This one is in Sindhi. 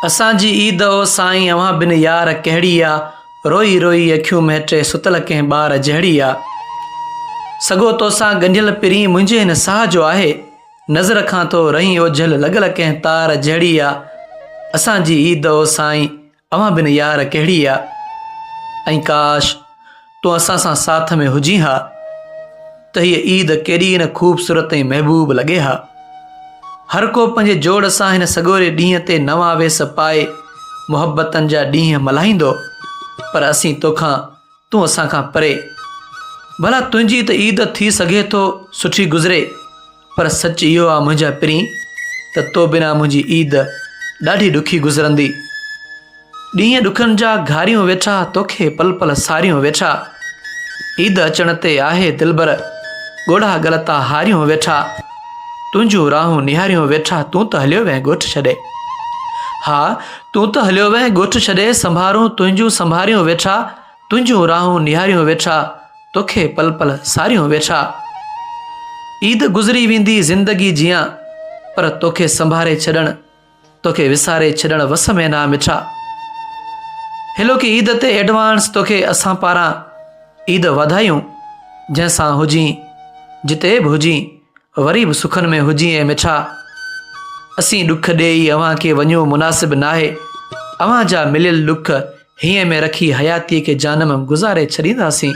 اسان جي عيد او سائين اوهان بن يار ڪهڙي آ روئي روئي اکيون مهٽي ستل ڪنهن ٻار جهڙي آ سگهو توسان ڳنڍيل پرين منهنجي هن ساهه جو آهي نظر کان ٿو رهين اوجهل لڳل ڪنهن تار جهڙي آ اسان جي عيد او سائين اوهان بن يار ڪهڙي آ ۽ ڪاش تون اسان سان ساٿ ۾ هجين ها ته هيء عيد ڪيڏي نه خوبصورت ۽ محبوب لڳي ها. هر ڪو پنهنجي جوڙ سان هن سڳوري ڏينهن تي نوان ويس پائي محبتن جا ڏينهن ملهائيندو پر اسين توکان تون اسان کان پري. ڀلا تنهنجي ته عيد ٿي سگهي ٿو سٺي گذري. پر سچ اهو آ منهنجا پرين ته تو بنا منهنجي عيد ڏاڍي ڏکي گذرندي. ڏينهن ڏکن جا گهاريون ويٺا توکي پل پل ساريون ويٺا عيد اچڻ تي آهي دلبر ڳوڙها ڳل تان هاريون ويٺا تنهنجون راهون نهاريون ويٺا تون ته هليو وئين ڳوٺ ڇڏي ها تون ته هليو وئين ڳوٺ ڇڏي سنڀارون تنهنجون سنڀاريون ويٺا تنهنجون راهون نهاريون ويٺا، توکي پل پل ساريون ويٺا. عيد گذري ويندي زندگي جيان، پر توکي سنڀاري ڇڏڻ، توکي وساري ڇڏڻ وس ۾ ناهه مٺا. هيلوڪي عيد تي ايڊوانس توکي اسان پاران عيد واڌايون، جنهن سان هجين، جتي به هجين، وري به سکن ۾ هجين اي مٺا. اسين ڏک ڏيئي اوهان کي وڃون مناسب ناهي، اوهان جا مليل ڏک هينئن ۾ رکي حياتيء کي جانم گذاري ڇڏينداسين.